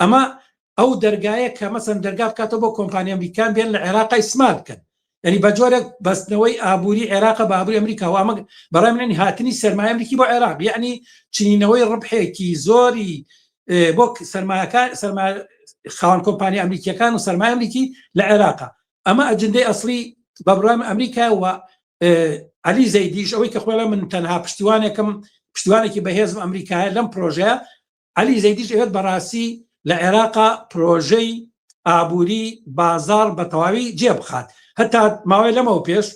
ئەمە ئەو دەرگایە کە مەسەن دەرگا بکاتەوە بۆ کۆمپانیا ئەمریکان بێن لە عێراقای سمال بکەن ینی بە جۆرێک بەستنەوەی ئابووری عێراق بە ئابووری ئەمریکا و ئەمە بەڕای منێن هاتنی سرمایە ئەمریکی بۆ عێراق یعنی چینەوەی ڕبحێکی زۆری بۆ سرمایەکان سرما خاوەن کۆمپانیا ئەمریکیەکان و سرمایە ئەمریکی لە عێراقا ئەمە ئەجندەی ئەسلی بەبرام ئەمریکا و علی زەیدیش ئەوەی کە خۆڵە من تەنها پشتیوانێکم پشتیوانێکی بەهێزم ئەمریکایە لەم پرۆژەیە علی زەیدیش ئەوێت بەڕاستی لە عێراقا پرۆژەی ئابووری بازار بە تەواوی جێ بخات هەتا ماوەی لەمەوە پێش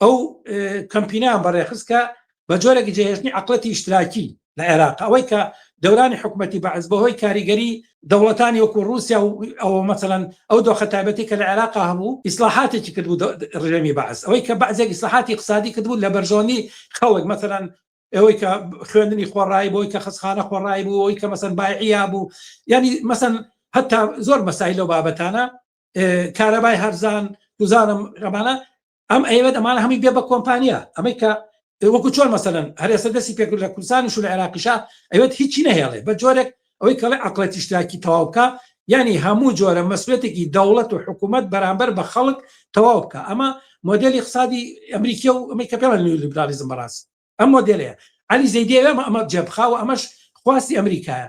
ئەو کەمپینیان بەڕێخستکە بە جۆرەێکی جێهێشتنی عقلەتی ئیشتراکی لە عێراق ئەوەی کە دەورانی حکوومەتتی بەعز بەهۆی کاریگەری دەوڵەتانی وەکو رووسیا و ئەوە مەسەەن ئەو دۆخە تایبەتی کە لە عێراق هەبوو ئیسلاحاتێکی کردبوو ڕژێمی بەعز ئەوەی کە بەعزێک ئیسلاحاتی قسادی کردبوو لە بەرژۆنی خەڵک مەسەەن ئەوەی کە خوێندنی خۆڕایی بۆی کە خستخانە خۆڕایی بوو ئەوی کە مەسەن بایعیا بوو ینی مەسەن هەتا زۆر مەسای لەو بابەتانە کارەبای هەرزان گوزانم ڕەمانە ئەم ئەوێت ئەمانە هەمی بێ بە کۆمپانیا ئەمەی کە وەکو چۆن مەسەن هەرێسە دەستی پێکرد لە کوردستانیش و لە عێراقیشا ئەوێت هیچی نەهێڵێ بە جۆرێک ئەوەی کەڵێ عەقڵە تیشتاکی تەواو بکا یانی هەموو جۆرە مەسولەتێکی دەوڵەت و حکومەت بەرامبەر بە خەڵک تەواو بکا ئەمە مۆدێلی اقسادی ئەمریکیە و ئەمەی کە پێڵە نیولیبرالیزم بەڕاست ئەم مۆدێلەیە عەلی زەیدی ئەوێ ئەمە جێبخا و ئەمەش خواستی ئەمریکایە